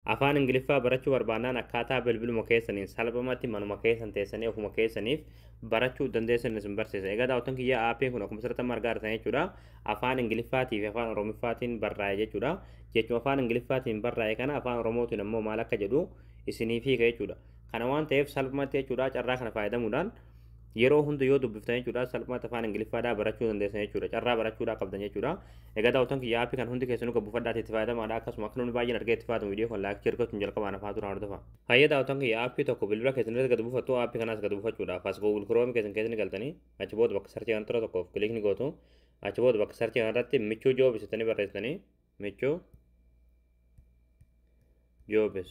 Afaan Ingiliffaa barachuu barbaannaan akkaataa bilbiluma keessaniin salphamatti manuma keessan teessanii ofuma keessaniif barachuu dandeessan isin barsiisa. Egaa daawwattoon kiyyaa aappiin kun akkuma sirriitti amma argaa jirtan jechuudha. Afaan Ingiliffaatii fi Afaan Oromiffaatiin barraa'e jechuudha. Jechuma Afaan Ingiliffaatiin barraa'e kana Afaan Oromootiin ammoo maal akka jedhu isiniif hiika jechuudha. Kana waan ta'eef salphamatti jechuudha carraa kana fayyadamuudhaan yeroo hunda yoo dubbiftan jechuudha salphaatti afaan ingiliffaadhaa barachuu dandeessan jechuudha carraa barachuudhaa qabdan jechuudha egaa daawwattoon kiyya aappii kan hundi keessanuu qabu fadhaatti itti fayyadamaadha akkasuma akka namni baay'een argee itti fayyadamu viidiyoo kan laakii argachuun jalqabaan afaa turaan hordofa hayyee daawwattoon kiyya aappii tokko bilbila keessan irratti gad buufattu aappii kanaas gad buufachuudhaaf as google chrome keessan keessan galtanii achi booda bakka sarchii kan tura tokkoof kiliik ni gootu achi booda bakka sarchii kan irratti michuu joob isitanii barreessitanii michuu joobis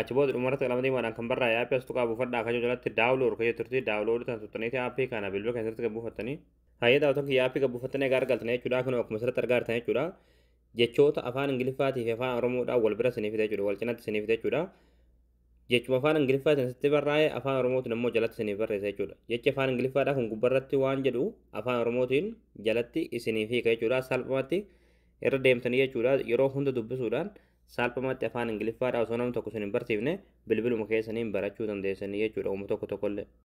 Achi booda dhumarratti qalama diimaadhaan kan barraa'e aappii as tuqaa buufadhaa akka jalatti daawulood akka jetturti daawulood tan tuqxaniiti aappii kana bilbila kan irratti gabbuufattanii. Hayyee daawwatan kiyya aappii gabbuufattanii egaa argaltan jechuudha kunoo akkuma asirratti argaa jirtan jechuudha. Jechoota afaan Ingiliffaatii fi afaan Oromoodhaan wal bira isiniif fida jechuudha wal cinatti isiniif fida jechuudha. Jechuma afaan Ingiliffaatiin sitti barraa'e afaan Oromootiin immoo jalatti isiniif barreessa jechuudha. Jechi afaan Ingiliffaadhaa kun gubbarratti waan jedhu afaan Oromootiin jalatti isiniif hiika jechuudha salphumatti irra deemtanii jechuudha yeroo hunda dubbisuudhaan Salphumatti afaan Ingiliffaadhaa osoo namni tokko isin hin barsiifne bilbiluma keessaniin barachuu dandeessanii jechuudha uuma tokko tokkollee.